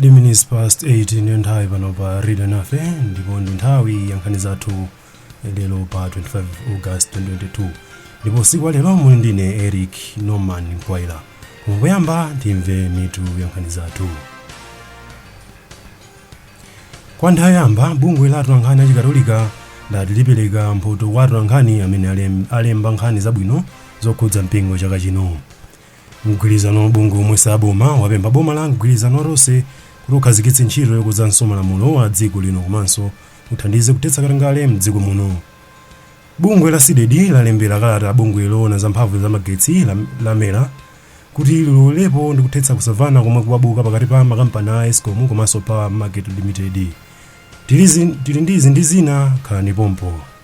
3 minutes past 8 ndiyo nthawi pano pa radio nafe ndipo ndi nthawi ya nkhani zathu lero pa 25 august 2022 ndipo tsiku la lero muli ndine eric norman mkwaila kungoyamba timve mitu ya nkhani zathu kwa nthawi yamba bungwe la atolankhani achikatolika lati lipereka mphoto kwa atolankhani amene alem- alemba nkhani zabwino zokhudza mpingo chaka chino Mgwirizano wa mabungwe omwe si aboma wapempha boma la mgwirizano wa Tonse kuti ukhazikitse ntchito yokonzanso malamulo a dziko lino komanso uthandize kuthetsa katangale m'dziko muno. Bungwe la Cdedi lalembera kalata bungwe loona za mphamvu za magetsi la, la mera kuti lilowerepo ndi kuthetsa kusamvana komwe kwabuka pakati pa makampani a escom komanso power market limited. Tilizi, tili ndi izi ndi zina khalani pompo.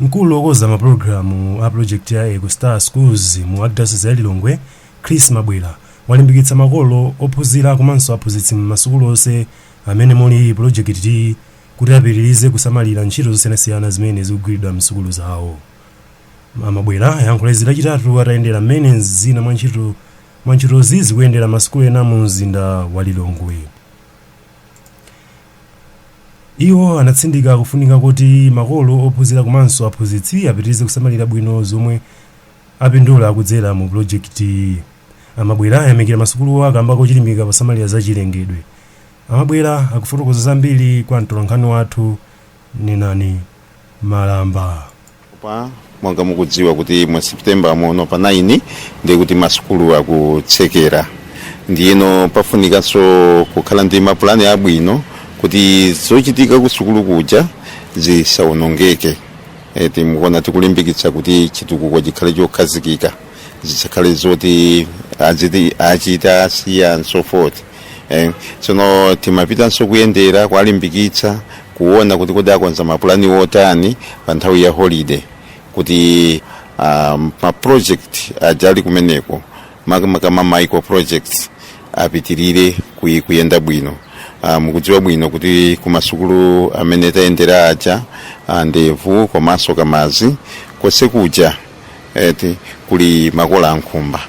Mkulu wokonza mapulogalamu a pulojekiti ya Eco Star Schools mu Archdiocese ya Lilongwe, Chris Mabwera, walimbikitsa makolo, ophunzira komanso aphunzitsi m'masukulu onse amene muli pulojekitiyi kuti apitirize kusamalira ntchito zosiyanasiyana zimene zikugwiridwa m'sukulu zawo. A Mabwera ayankhula izi Lachitatu atayendera mmene zina mwa ntchito mwa ntchitozi zikuyendera m'masukulu ena mu mzinda wa Lilongwe. Iwo anatsindika kufunika koti makolo, ophunzira komanso aphunzitsi apitirize kusamalira bwino zomwe apindula kudzera mu pulojekitiyi. A Mabwera ayamikira masukuluwa kamba kochilimika posamalira za chilengedwe. A Mabwera akufotokoza zambiri kwa mtolankhani wathu Nenani Malamba. Pa monga mukudziwa kuti mu september muno pa 9 ndiye kuti masukulu akutsekera ndiyeno pafunikanso kukhala ndi mapulani abwino kuti zochitika kusukulu kuja zisawonongeke e, timukuona tikulimbikitsa kuti chitukuko chikhale chokhazikika zisakhale zoti aziti achita asiya and so forth eh, tsono timapitanso kuyendera kuwalimbikitsa kuona kuti kodi akonza mapulani otani pa nthawi ya holiday kuti um, ma project aja ali kumeneko makamaka ma micro projects apitirire kuyi- kuyenda bwino Ah, mukudziwa bwino kuti kumasukulu amene tayendera aja ah, ndevu komanso kamazi konse kuja eti kuli makola a nkhumba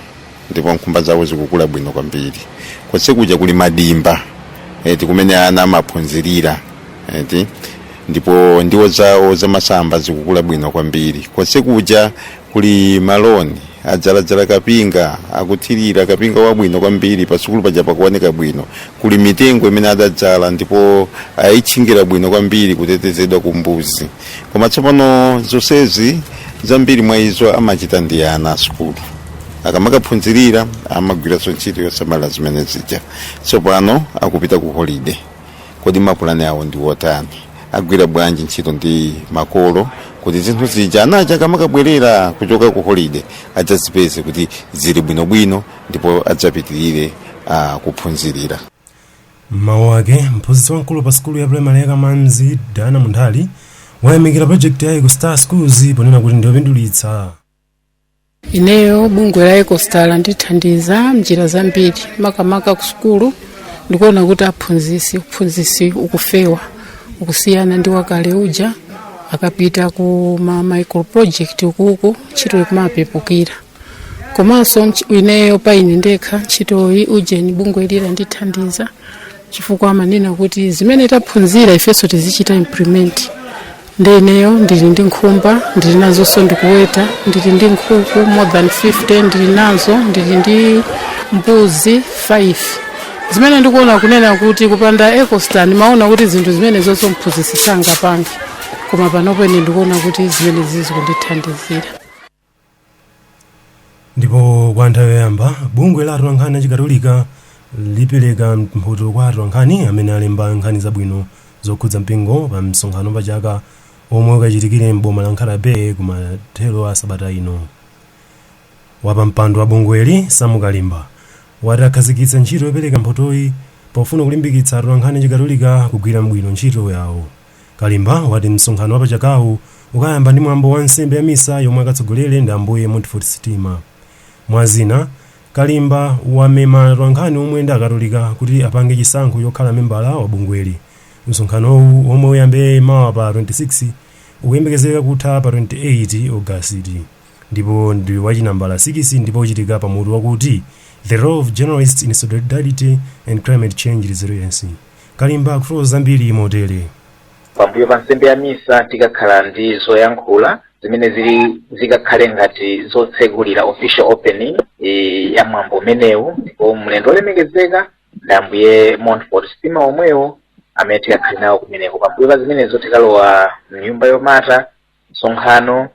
ndipo nkhumba zawo zikukula bwino kwambiri konse kuja kuli madimba eti kumene ana amaphunzirira eti ndipo ndiwo zawo zamasamba zikukula bwino kwambiri konse kuja kuli maloni adzaladzala kapinga akuthirira kapinga wabwino kwambiri pasukulu paja pakuoneka bwino kuli mitengo imene adadzala ndipo ayitchingira bwino kwambiri kutetezedwa ku mbuzi koma tsopano zonsezi zambiri mwa izo amachita ndi ana a sukulu akamakaphunzirira amagwiranso ntchito yosamala zimene zija tsopano akupita ku holide kodi mapulani awo ndi otani agwira bwanji ntchito ndi makolo kuti zinthu zija anaja akamakabwerera kuchoka ku holide adzazipeze kuti zili bwinobwino ndipo adzapitirire uh, kuphunzirira M'mawu ake, mphunzitsi wamkulu pa sukulu ya primary ya Kamanzi, Dana Munthali, wayamikira project ya Eco Star Schools ponena kuti ndiyopindulitsa. ineyo bungwe la ecostar landithandiza mnjira zambiri makamaka ku sukulu ndikuona kuti aphunzisi uphunzisi ukufewa ukusiyana ndi wakale uja akapita ku ma micro project ukuko ntchito ikumapepukira komanso ntch- ineyo pa ine ndekha ntchitoyi ujeni bungweli landithandiza chifukwa amanena kuti zimene taphunzira ifenso tizichita implement nde ineyo ndili ndi nkhumba ndili nazonso ndikuweta ndili ndi nkhuku more than 50 ndili nazo ndili ndi mbuzi 5 zimene ndikuona kunena kuti kupanda ecostar ndimaona kuti zinthu zimene zonse mphunzitsi sangapange koma panopo ine ndikuona kuti zimene zizikundithandizira ndipo kwa nthawi yoyamba bungwe la atolankhani achikatolika lipereka mphoto kwa atolankhani amene alemba nkhani zabwino zokhudza mpingo pa msonkhano pa chaka omwe ukachitikire m'boma la nkhata bay kumathero a sabata ino wapampando wa bungweli sam kalimba wati akhazikitsa ntchito yopereka mphotoyi pofuna kulimbikitsa atolankhani achikatolika kugwira bwino ntchito yawo Kalimba wati msonkhano wapachakawu ukayamba ndi mwambo wa nsembe ya misa yomwe akatsogolere ndi Ambuye Montfort Stima. Mwa zina, Kalimba wamema atolankhani omwe ndi akatolika kuti apange chisankho chokhala membala wa bungweli. Msonkhanowu womwe uyambe mawa pa 26 ukuyembekezeka kutha pa 28 August ndipo ndi wachinambala 6 ndipo uchitika pa mutu wakuti The Role of Journalists in Synodality and Climate Change Resiliency. kalimba akufotokoza zambiri motere pambuyo pa nsembe ya misa tikakhala ndi zoyankhula zimene zili zikakhale ngati zotsegulira official opening eh, ya mwambo umenewu ndipo mlendo olemekezeka ndi ambuye montfort stima omwewo amene tikakhale nawo kumeneko pambuyo pa zimenezo tikalowa mnyumba yomata msonkhano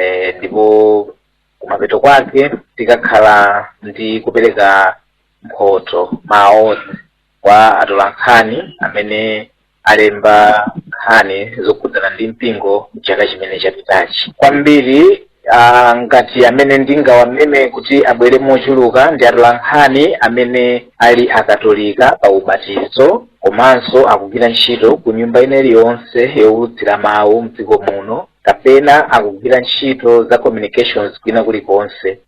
eh, ndipo kumapeto kwake tikakhala ndi kupereka mphoto ma awards kwa atolankhani amene alemba nkhani zokhudzana ndi mpingo mchaka chimene chapitachi kwambiri uh, ngati amene ndingawameme kuti abwere mochuluka ndi atolankhani amene ali akatolika pa ubatizo komanso akugwira ntchito ku nyumba ina iliyonse yowulutsira mawu mdziko muno kapena akugwira ntchito za communications kwina kulikonse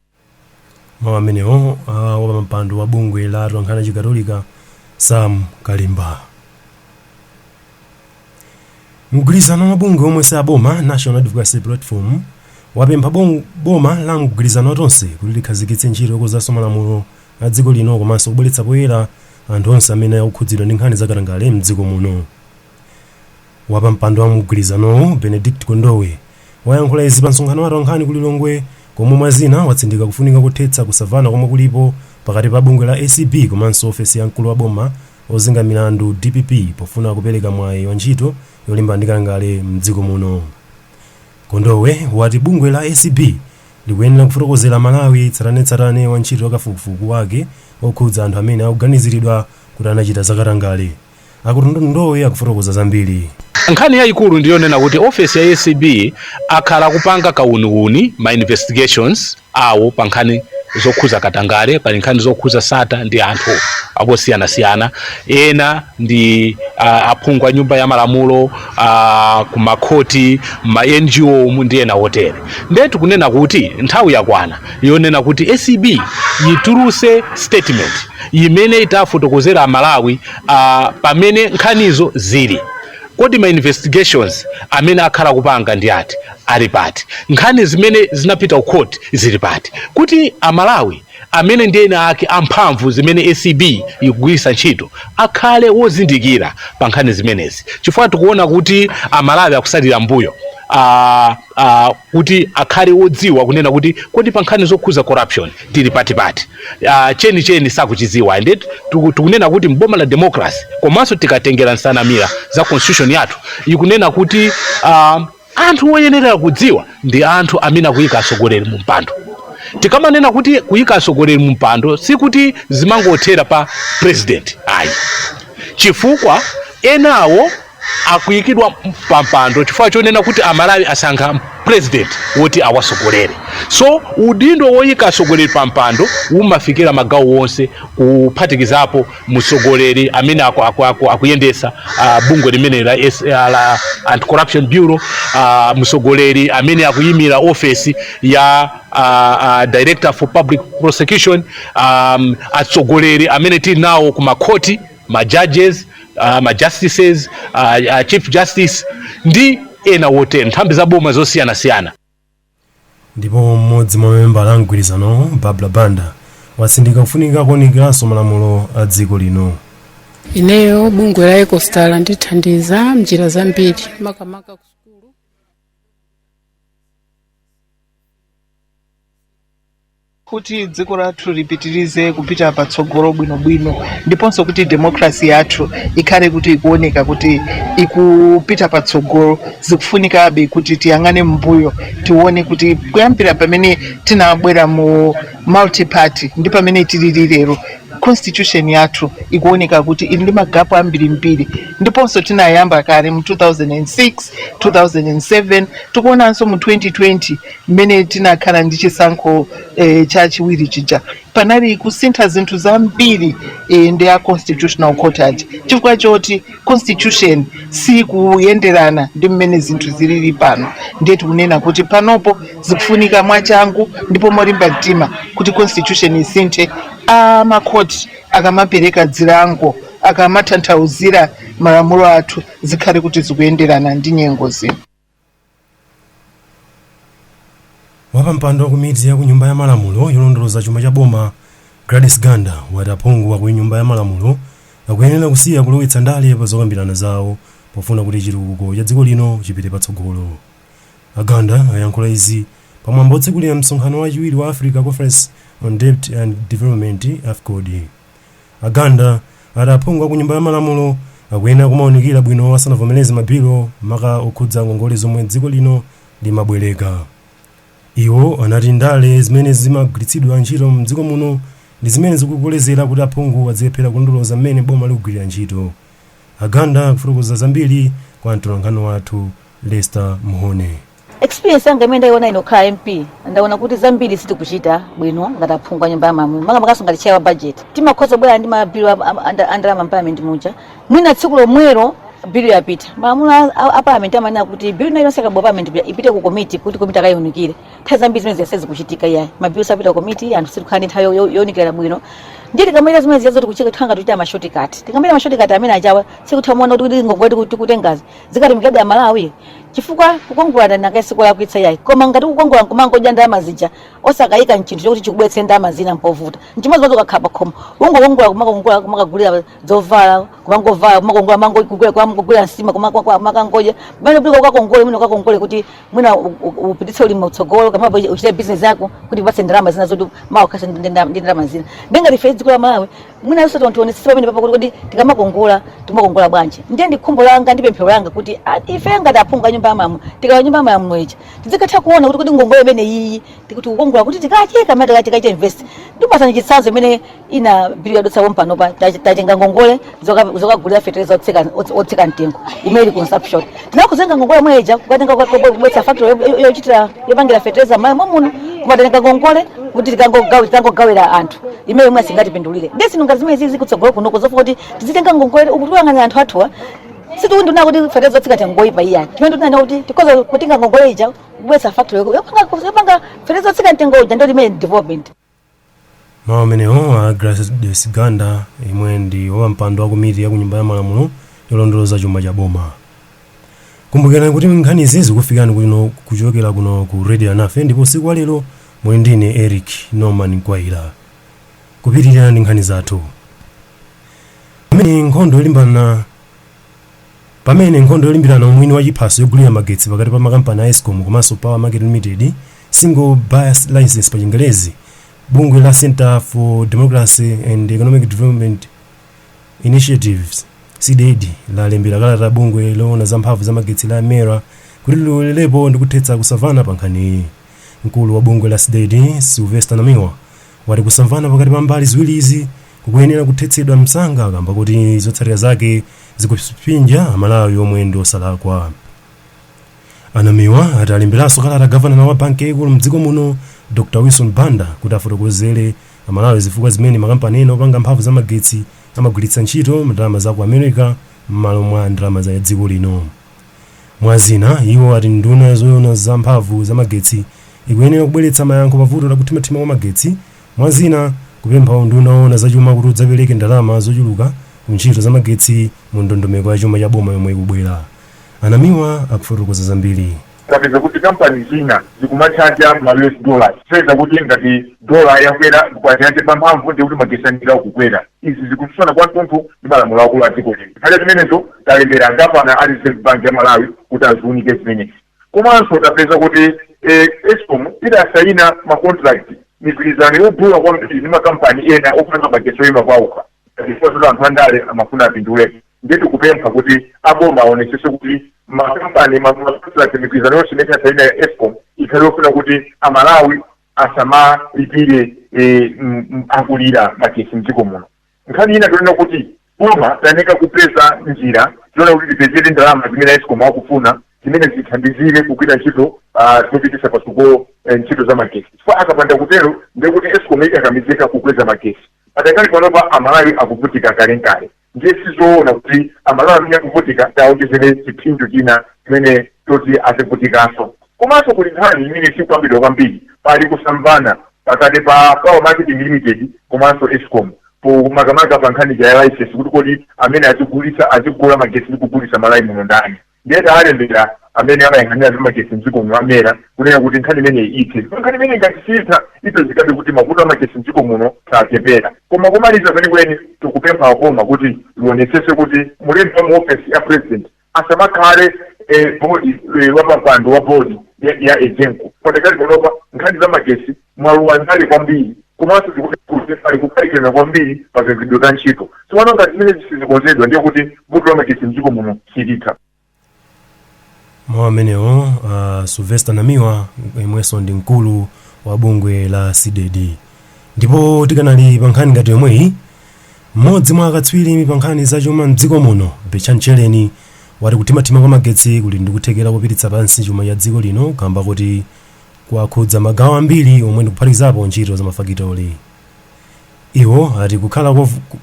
mawu amenewo a wapampando wa bungwe la atolankhani achikatolika sam kalimba mgwirizano wa bungwe omwe si aboma national advocacy platform wapempha bom- boma la mgwirizano wa tonse kuti likhazikitse ntchito yokonzanso malamulo a dziko lino komanso kubweretsa poyera anthu onse amene akukhudzidwa ndi nkhani zakatangale mdziko muno Wapampando wa mgwirizanowu Benedict Kondowe wayankhula izi pa msonkhano wa atolankhani ku Lilongwe komwe mwa zina watsindika kufunika kothetsa kusavana komwe kulipo pakati pa bungwe la acb komanso ofesi ya mkulu wa boma ozenga milandu dpp pofuna kupereka mwayi wa ntchito yolimbana ndi katangale mdziko muno. Kondowe wati bungwe la acb likuyenera kufotokozera amalawi tsatanetsatane wa ntchito za kafukufuku wake okhudza anthu amene akuganiziridwa kuti anachita zakatangale. a kondowe akufotokoza zambiri nkhani yayikulu ndiyonena kuti ofesi ya acb akhala kupanga kauniuni ma investigations awo pa nkhani zokhuza katangale pa nkhani zokhuza sattar ndi anthu osiyanasiyana ena ndi uh, aphungu a nyumba ya malamulo uh, kumakhoti ma ngo ndi ena otere ndiye tikunena kuti nthawi yakwana yonena kuti acb yituluse statement yimene itafotokozera amalawi uh, pamene nkhanizo zili kodi ma investigations amene akhala kupanga ndi ati ali pati nkhani zimene zinapita ku court zili pati kuti amalawi amene ndi eni ake amphamvu zimene acb ikugwiritsa ntchito akhale wozindikira pa nkhani zimenezi chifukwa tikuona kuti amalawi akusalira mbuyo uh, uh, kuti akhale wodziwa kunena kuti kodi pa nkhani zokhuza corruption tili pati uh, chenicheni sakuchidziwa ende tikunena kuti mboma la democracy komanso tikatengera nsanamira za constitution yathu ikunena kuti uh, anthu oyenera kudziwa ndi anthu amene akuyika atsogoleri mu mpando tikamanena kuti kuyika atsogoleri mu mpando sikuti zimangothera pa president ayi chifukwa enawo akuyikidwa pampando chifukwa chonena kuti amalawi asankha president woti awasogolere so udindo woyika atsogoleri pampando umafikira magawo wonse kuphatikizapo mtsogoleri amene aku- aku- aku- akuyendesa ah, bungwe limene la S- ah, la anti corruption bureau ah, mtsogoleri amene akuyimira ofesi ya ah, ah, director for public prosecution um, atsogoleri amene tili nawo ku makhoti ma judges uh, ma justices uh, uh, chief justice ndi ena wotero nthambi za boma zosiyanasiyana ndipo mmodzi mwa mamembala a mgwirizanowo Barbara Banda watsindika kufunika kuunikiranso malamulo a dziko lino ineyo bungwe la ecostar landithandiza mnjira zambiri makamaka ku Kuti dziko lathu lipitirize kupita patsogolo bwinobwino ndiponso kuti democracy yathu ikhale kuti ikuoneka kuti ikupita patsogolo, zikufunikabe kuti tiyang'ane m'mbuyo tione kuti kuyambira pamene tinabwera mu multiparty ndi pamene tilili lero, constitution yathu ikuoneka kuti ili ndi magapu ambirimbiri. Ndiponso tinayamba kale mu 2006, 2007, tikuonanso mu 2020. Mmene tinakhala ndi chisankho e, chachiwiri chija panali kusintha zinthu zambiri e, ndi a constitutional court ati chifukwa choti constitution sikuyenderana ndi mmene zinthu zilili pano, ndiye tikunena kuti panopo zikufunika mwachangu ndipo molimba mtima kuti constitution isinthe a makhoti akamapereka dzilango akamatanthauzira malamulo athu zikhale kuti zikuyenderana ndi nyengo zino. wapampando wa komiti ya kunyumba ya malamulo yolondoloza chuma cha boma gladys ganda wati aphungu aku nyumba ya malamulo akuyenera kusiya kulowetsa ndale pa zokambirana zawo pofuna kuti chitukuko cha dziko lino chipite patsogolo aganda ayankhula izi pamwambo otsekulira msonkhano wachiwiri wa africa conference on debt and development afcod A Ganda ati aphungu a ku nyumba ya malamulo akuyenera kumaunikira bwino asanavomereze mabilo maka okhudza ngongole zomwe dziko lino limabwereka. Iwo anati ndale zimene zimagwiritsidwa ntchito m'dziko muno ndi zimene zikukolezera kuti aphungu adzilephera kulondoloza mmene boma likugwirira ntchito. A Ganda akufotokoza zambiri kwa mtolankhani wathu Lester Mhone. experience yanga imene ndaiona ine nkukhala mp ndaona kuti zambiri sitikuchita bwino ngati aphungu a nyumba ya malamulo makamakanso ngati chair wa budget timakhoza kubwera ndi mabilo andalama mparliament muja mwina tsiku lomwelo bilu yapita malamulo a- a a parliament amanena kuti bilu ina iliyonse ikabwera parliament ipita- ipite ku komiti kuti komiti akayiunikire nthawi zambiri zimene zijazi sizikuchitika iyayi mabilo sapita ku komiti anthu sitikhala ndi nthawi yo- yo- younikira bwino ndiye tikamachita zimene zijazo tikuchita tikhala ngati tichita mashotikati tikamachita mashotikati amene ajawa sitikutha kuona kuti kuti ngongole tikutengazi zikatumikira amalawi chifukwa kukongola ndalama sikulakwitsa yayi koma ngati kukongola nkumangodya ndalama zija osakayika mchinthu chokuti chikubwetse ndalama zina mpovuta, mchimodzimodzi ukakhala pakhomo ungokongola kumakongola kumakagulira zovala kumangovala kumakongola mangogulira kumakagulira nsima kumakangodya pamene kuti ukakongole mwina ukakongole kuti mwina u- u- upititse ulimi mtsogolo kapena uchite bizinesi yako kuti ikupatse ndalama zina zoti mawa ukhalenso ndi ndalama zina ndiye ngati ife dziko la malawi mwinanso tionetsetsa pamene papo kuti kodi tikamakongola timakongola bwanji ndiye ndi khumbo langa ndi pemphero langa kuti a- ife ngati aphungu a nyumba ya malamulo tikalowa nyumba ya malamulo ija tizikatha kuona kuti kodi ngongole imene iyi tikuti kukongola kuti tikatenga tikachite invest ndikupatsani chitsanzo mmene ina bili yadutsa pompanopa tatenga ngongole zoka- zokagulira fetereza otsika- otsika mtengo imene ili consumption nakutenga ngongole imene ija kukatenga kubweretsa factory yochitira yopangira fetereza m'Malawi muno kumatenga ngongole kuti tikangogawira anthu imeneyo imene asingatipindulire ndiye zinthu ngati zimene zizi kutsogolo kuno kuzafuna kuti tizitenga ngongole yoti ipindulire anthu athuwa sitikunena kuti fetereza otsika mtengo ngoyipa ayi chimene tikunena kuti tikoza kutenga ngongole ija kubweretsa factory yopanga fetereza otsika mtengo uja ndiyo imene development mawu amenewo a gladys ganda yemwe ndi wapampando wa komiti ya kunyumba ya malamulo yolondoloza chuma cha boma kumbukirani kuti nkhanizi zikufikani kuno kuchokera kuno ku radio nafe ndipo usiku wa lero muli ndine eric norman kwaira kupitirira ndi nkhani zathu pamene nkhondo yolimbana Pamene nkhondo yolimbirana umwini wa chiphaso yogulira magetsi pakati pa makampani a escom komanso power market limited, single buyer license pa chingelezi, bungwe la center for democracy and economic development initiatives, cdedi, lalembera kalata bungwe loona za mphamvu za magetsi la mera kuti lilowererepo ndi kuthetsa kusamvana pa nkhaniyi. Mkulu wa bungwe la cdedi, Sylvester Namiwa, wati kusamvana pakati pa mbali ziwirizi kukuyenera kuthetsedwa msanga kamba kuti zotsatira zake zikupsinja amalawi omwe ndi osalakwa a namiwa ati alemberanso kalata gavanala wa banki yaikulu mdziko muno dr wilson banda kuti afotokozere amalawi zifukwa zimene makampani ena opanga mphamvu za magetsi amagwiritsa ntchito ndalama za ku america m'malo mwa ndalama za dziko lino Mwa zina, iwo ati nduna ya zoona za mphamvu za magetsi ikuyenera kubweretsa mayankho pa vuto la kuthimathima kwa magetsi, mwa zina, kupempha unduna woona za chuma kuti udzapereke ndalama zochuluka ku ntchito za magetsi mu ndondomeko ya chuma cha boma yomwe ikubwera. A Namiwa akufotokoza zambiri. tapeza kuti kampani zina zikumatchaja ma us dollars kupeza kuti ngati dola yakwera kwacha yachepa mphamvu ndikuti magetsi ayenera kukwera Izi zikutsutsana kwathunthu ndi malamulo akulu a dziko lino. Chifukwa cha zimenezo talembera gavana a Reserve Bank ya Malawi kuti aziunike zimenezi. Komanso tapeza kuti escom idasaina ma contract, migwirizano, yodula kwambiri ndi makampani ena opanga magetsi oima paokha chifukwa choti anthu andale amafuna apindulepo. Ndiye tikupempha kuti a boma aonetsetse kuti makampani, ma contract, migwirizano yonse imene tidasaina ya escom ikhale yofuna kuti Amalawi, asamalipire eh, m- m- akulira magetsi mdziko muno nkhani ina tanena kuti boma layeneka kupeza njira zoona kuti tipezere ndalama zimene escom akufuna zimene zithandizire kugwira ntchito ah, zopititsa patsogolo eh, ntchito za magetsi chifukwa akapanda kutero ndekuti escom ikakamizika kukweza magetsi pakadali panopa amalawi akuvutika kalenkale ndiye sizoona kuti amalawi amene akuvutika tiawonjezere chipsinjo china chimene choti azivutikanso komanso kuli nkhani imene sikukambidwa kwambiri pali kusamvana pakati pa power marketing limited komanso escom pomakamaka pa nkhani ya license kuti kodi amene azigulitsa azigula magetsi ndi kugulitsa malawi muno ndani ndiye tawalembera amene amayang'anira zamagetsi mdziko muno amera kuyeneka kuti nkhani imeneyi ithe ndipo nkhani imene ngati siitha ipezekabe kuti mavuto amagetsi mdziko muno sachepera koma kumaliza kwenikweni tikupempha aboma kuti lionetsese kuti mlembi wa mu ofesi ya president asamakhale eh, bodi eh, wapampando wa bodi ya, ya egenco pakadali panopa nkhani za magetsi mwalowa ndale kwambiri komanso kuli kukaikirana kwambiri pa kagwiridwe ka ntchito tsopano ngati zimenezi sizikonzedwa ndiye kuti vuto la magetsi mdziko muno silitha mawu amenewo uh, sylvester namiwa yemwenso ndi mkulu wa bungwe la cdedi ndipo tikadali pa nkhani ngati yomweyi mmodzi mwa akatswiri pa nkhani zachuma mdziko muno betchani tchereni wati kuthimathima kwa magetsi kuli ndikuthekera kupititsa pansi chuma cha dziko lino kamba kuti kwakhudza magawo ambiri omwe ndikuphatikizapo ntchito za mafakitori. Iwo ati kukhala kovu- ku-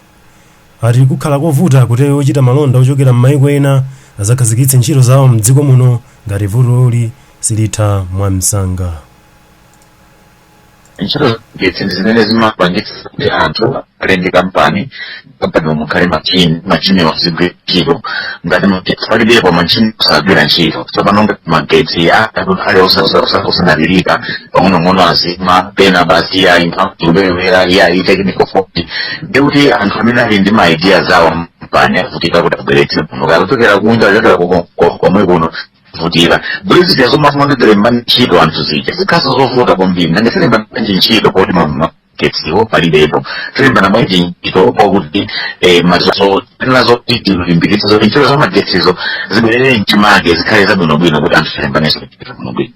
ati kukhala kovuta kuti ochita malonda ochokera m'mayiko ena azakhazikitse ntchito zawo m'dziko muno ngati vutoli silitha mwamsanga. ntchito za magetsi ndi zimene zimapangitsa kuti anthu amene ali ndi kampani pampano mukhale machini machiniwo azigwira ntchito ngati magetsi palibepo machini sagwira ntchito tsopano ngati magetsi ali osadalirika pang'onong'ono azima pena basi ayi mphamvu kubewera ayi technical fault ndekuti anthu amene ali ndi makampani awo avutika kuti abweretse kuno kaya kuchokera kunja kuchokera kuko- ko- komwe kuno vutira buli zija zomafuna kuti tilembe ntchito anthu zija zikhala zovuta kwambiri nanga tilemba ntchito poti mama getsiwo palibepo tilembana bwanji ntchito kwakuti eh, nazo nazo tilimbikitse zoti ntchito za magetsizo zibwerere mchimake zikhale zabwinobwino kuti anthu tilembanenso ntchito bwinobwino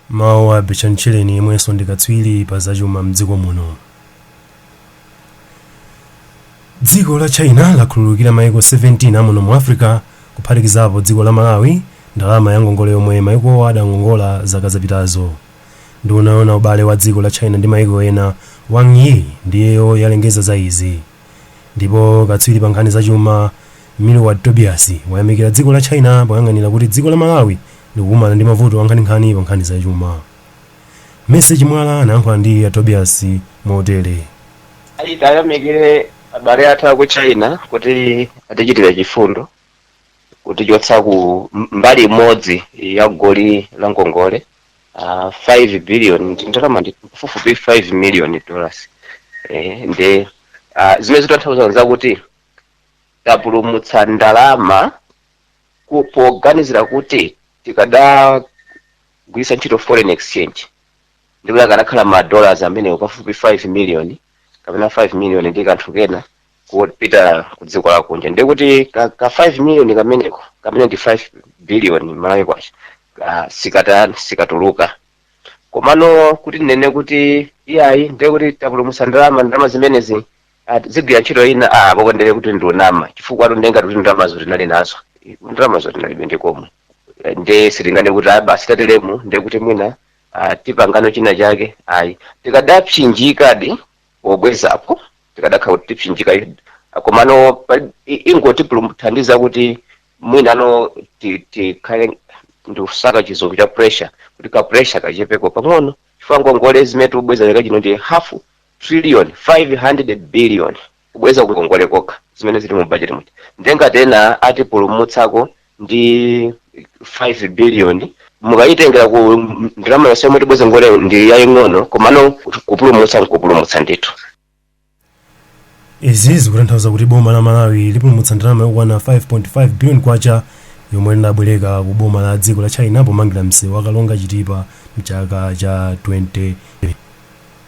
mawu a Betchani Tchereni yemwenso ndi katswiri pa zachuma mdziko muno dziko la china lakhululukira maiko 17 amuno mu africa kuphatikizapo dziko la malawi ndalama ya ngongole yomwe maikowa adangongola zaka zapitazo Nduna yoona ubale wa dziko la China ndi maiko ena Wang Yi ndiyo yalengeza za izi. Ndipo katswiri pa nkhani za chuma Milward Tobias wayamikira dziko la China poyang'anira kuti dziko la Malawi likukumana ndi mavuto ankhaninkhani pa nkhani za chuma. Mercy Chimwala anayankhula ndi a Tobias motere. Ayi, tayamikire abale athu aku china kuti atichitira chifundo kutichotsa ku m- mbali imodzi ya goli la ngongole uh, 5 billion ndi ndalama ndi pafupifupi 5 million dollars eh, nde uh, zimene zitanthauza nzakuti tapulumutsa ndalama ku- poganizira kuti tikadagwiritsa ntchito foreign exchange ndikuti akanakhala ma dollars amenewo pafupi 5 million kapena 5 million ndi kanthu kena kupita ku dziko lakunja ndiye kuti ka, ka 5 million kameneko kamene ndi 5 billion malawi kwacha ka- sikata sikatuluka komano kuti tinene kuti iyayi ndiye kuti tapulumutsa ndalama ndalama zimenezi ati zigwira ntchito ina ah pakondere kuti ndionama chifukwa tondenga kuti ndalamazo tinali nazo ndalamazo tinalibe ndikomwe nde sitinganene kuti ah basi tateremu ndiye kuti mwina ah, tipangano china chake ayi tikadapsinjikadi pobwezapo tikadakhala kuti tipsinjika i- komano pali- i- ingotipulumuthandiza kuti mwinano ti- tikhale ndikusaka chizungu cha pressure kuti ka pressure kachepeko pang'ono chifukwa ngongole zimene tikubweza chaka chino ndi half trillion 500 billion kubweza kungongole kokha zimene zili mu budget mu eti nde ngati ena atipulumutsako ndi 5 billion mukayitengera ku ndalama yonse yomwe tibweze ngongole ndi yaying'ono komano kupulumutsa nkupulumutsa ndithu izi zikutanthauza kuti boma la malawi lipulumutsa ndalama yokwana 5.5 billion kwacha yomwe linabwereka ku boma la dziko la china pomangira msewu wa karonga chitipa mchaka cha 20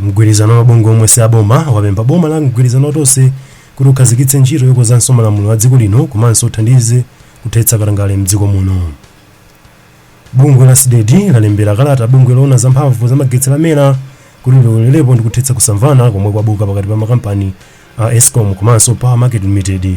mgwirizano wa mabungwe omwe si aboma wapempha boma la mgwirizano wa tonse kuti ukhazikitse ntchito yokonzanso malamulo a dziko lino komanso uthandize kuthetsa katangale mdziko muno bungwe la cdedi lalembera kalata bungwe loona za mphamvu za magetsi la mera kuti lilowererepo ndi kuthetsa kusamvana komwe kwabuka pakati pa makampani a escom komanso power market limited